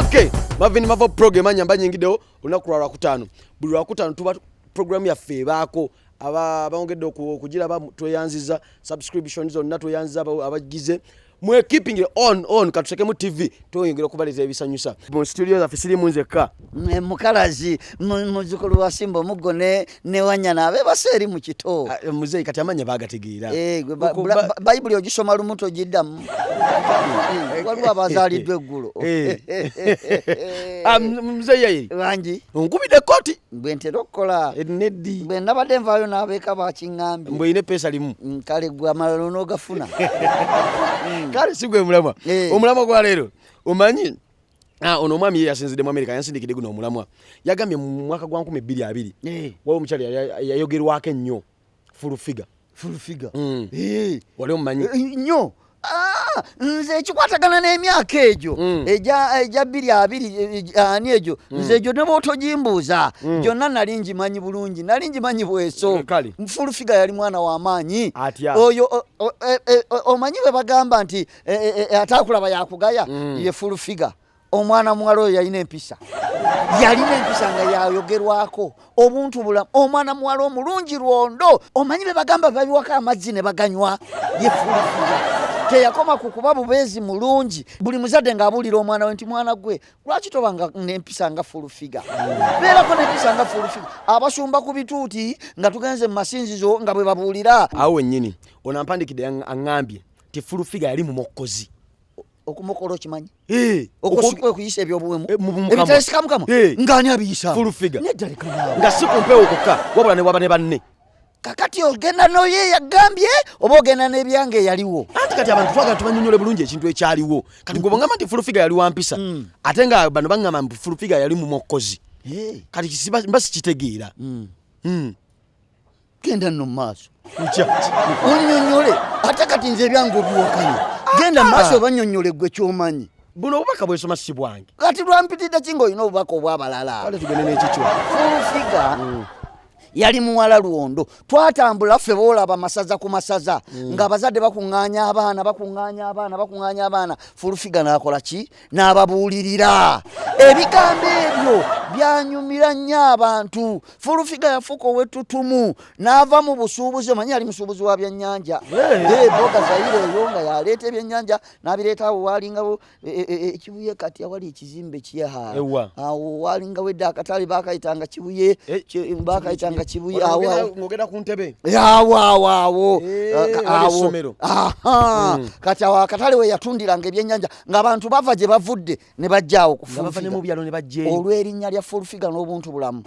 Okay, Marvin Mavo program anyamba nyingidewo olunaku lwa Lwakutaano. Buli Lwakutaano tuba program yaffe ebaako abongedde okugiraba tweyanziza subscription zonna tweyanziza abagize mwe keeping it on on katutekemu tv tweyongera okubaleta ebisanyusa mu studio zaffe sirimu nzekka mukalazi muzukulu wasimba omuggo ne newanyana abebase eri mu kito ah, muzeeyi kati amanya bagategeera eh, bayibuli ogisoma lumu togiddamu eh, waliwo abazaaliddwa eggulo eh. ah, muzeeyi wangi onkubidde ekkooti bwe ntera okukola neddi bwe nabadde nvaayo n'abeeka bakiŋŋambye mbwe olina epeesa limu mm, kale gwe amalala onoogafuna kale si gwe mulamwa omulamwa gwa leero omanyi Ah, ono omwami ye yasinzidde mu amerika yansindikidde guno omulamwa yagambye mu mwaka gwa 220 eh. waliwo omukyala yayogerwako ennyo fulufiga fulufiga mm. eh. wali omumanyi eh, nnyo ah, nze ekikwatagana n'emyaka egyo mm. egya bbiri abiri ani egyo mm. nze egyo ne bwotogimbuuza gyonna nali ngimanyi bulungi nali ngimanyi bweso fulufiga yali mwana w'amaanyi oyo omanyi bwe bagamba nti e, e, e, ate akulaba yakugaya mm. ye full figure omwana muwala oyo yalina empisa yalina empisa nga yayogerwako obuntu bulamu omwana muwala omulungi lwondo omanyi bebagamba babiwako amazzi ne baganywa ye full figure teyakoma ku kuba bubeezi mulungi buli muzadde ng'abuulira omwana we nti mwana gwe lwaki toba nga nempisa nga fulufiga beerako nempisa nga fulufiga abasumba ku bituuti nga tugenze mu masinzizo nga bwe babuulira awo wennyini ono ampandikidde aŋŋambye nti fulufiga yali mumokkozi okumukola okimanyi eh, okuyisa ebyobuwemu eh, ebitesika mukama eh. ngaani abiyisa fulufiga nga si kumpewo kokka wabula newaba ne banne kakati ogenda noye yagambye oba ogenda nebyange eyaliwo anti kati abantu twagala tubanyonyole bulungi ekintu ekyaliwo kati gwe bwongamba nti fulufiga yali wampisa hmm. ate nga bano bagamba nti fulufiga yali mumokkozi kati mba sikitegeera hmm. Hmm. genda nno mu maaso onyonyole ate kati nze ebyange obiwakanye genda mu maaso obanyonyole gwe kyomanyi buno obubaka bwesoma si bwange kati lwampitidde ki nga olina obubaka obwabalala kale tugende nekikyo fulfiga mm. yali muwala lwondo twatambula ffe boolaba masaza ku masaza mm. ng'abazadde bakuŋŋaanya abaana bakuŋŋaanya abaana bakuŋŋaanya abaana fulufiga n'akola ki n'ababuulirira ebigambo ebyo byanyumira nnyo abantu fulufiga yafuuka owettutumu n'ava mu busuubuzi omanyi yali musuubuzi wa byannyanja eboga zayire eyo nga yaleeta ebyennyanja n'abireetaawo waalingawo e, e, e, ekibuye kati awali ekizimbe kyeha awo waalingawo edda akatale bakayitanga kibuye bakayitanga kibuye awogera ku ntebe awo awo awo awo mm. kati awo akatale we yatundiranga ebyennyanja ng'abantu bava gye bavudde ne bajjaawo kuolw'erinnya lya fulfiga n'obuntu bulamu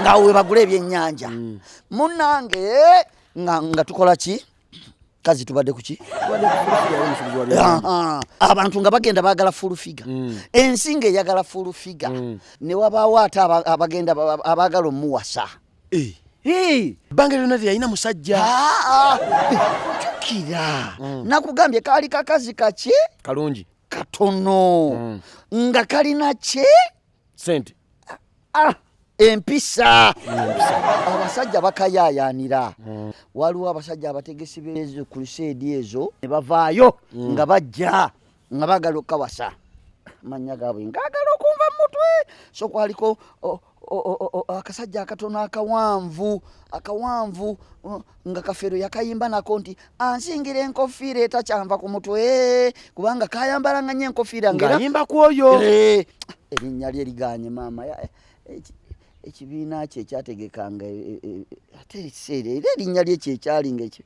ngaawo we bagula ebyennyanja mm. munnange nga tukola ki kazi tubadde kuki abantu nga bagenda bagala fulfiga mm. ensi nga eyagala fulfiga mm. ne wabaawo ate abagenda abagala omuwasa ebbanga lyona teyalina musajja jukira mm. nakugambye kaali kakazi kaki kalungi katono mm. nga kalina ki sente ah, empisa abasajja bakayayanira mm. waliwo abasajja abategesi bezo kuluseedi ezo ne bavaayo nga bajja nga bagala okukawasa manya gaabwe ngaagala okunva mu mutwe so kwaliko akasajja akatono akawanvu akawanvu nga kafeero yakayimba nako nti ansingira enkofiira etakyanva ku mutwe kubanga kayambalanga nyo enkofiira ngaayimba ku oyo eh, erinnya lye liganye maama eh, ekibiina kye kyategekanga eh, ate ekiseera era erinnya lye kyekyalinga ekyo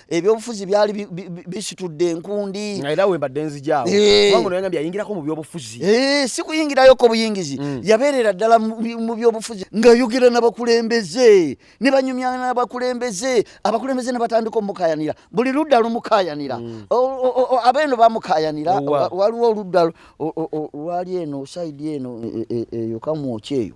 ebyobufuzi byali bisitudde enkundi nga era wembadde nzijaawo eh. kubanga ono yagambye ayingirako mu byobufuzi eh, si kuyingirayoko buyingizi mm. yabeerera ddala mu byobufuzi ng'ayogera n'abakulembeze ne banyumya n'abakulembeze abakulembeze ne batandika omukayanira buli ludda lumukayanira mm. abeeno bamukayanira waliwo oludda lwali eno saidi eno eyo e, e, e, kamwoki eyo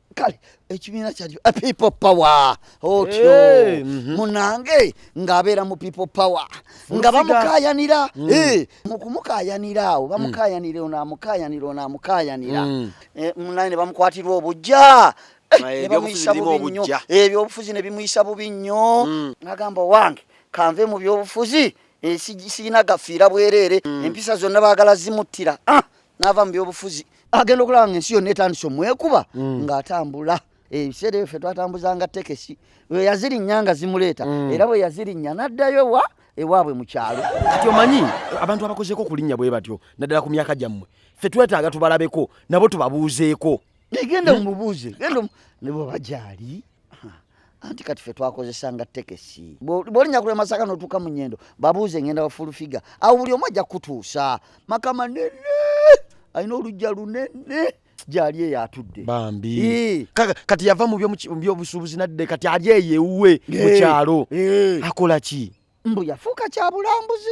kale ekibiina kyali a people power otyo hey, mm -hmm. munange ng'abeera mu people power nga bamukayanira mm. hey, eh, mukumukayanira awo bamukayanira mm. onaamukayanira onaamukayanira mm. eh, munaye ne bamukwatirwa obujja eh, nebamuyisa bubi nnyo ebyobufuzi eh, ne bimuyisa bubi nnyo mm. agamba owange kanve mu byobufuzi eh, siyina gafiira bwereere mm. empisa zonna baagala zimuttira ah. n'ava mu byobufuzi agenda okulaba nga ensi yonna etandise omwekuba mm. ng'atambula ebiseera ebyo ffe twatambuzanga tekesi we yazirinnya nga zimuleeta mm. era bwe yazirinnya n'addayo wa ewaabwe mu kyalo kati omanyi abantu abakozeeko okulinnya bwe batyo naddala ku myaka gyammwe ffe twetaaga tubalabeko nabo tubabuuzeeko naye genda hmm? omubuuze genda nebo bajaali anti kati fe twakozesanga tekesi bolinya kule masaka notuuka mu nyendo babuuze ngenda wafulufiga awo buli omu ajja kutuusa maka manene alina olujja lunene gyali eyo atudde bambi kati yava mu byobusuubuzi nadde kati ali eyo ewuwe mu kyalo akola ki mbu yafuuka kya bulambuzi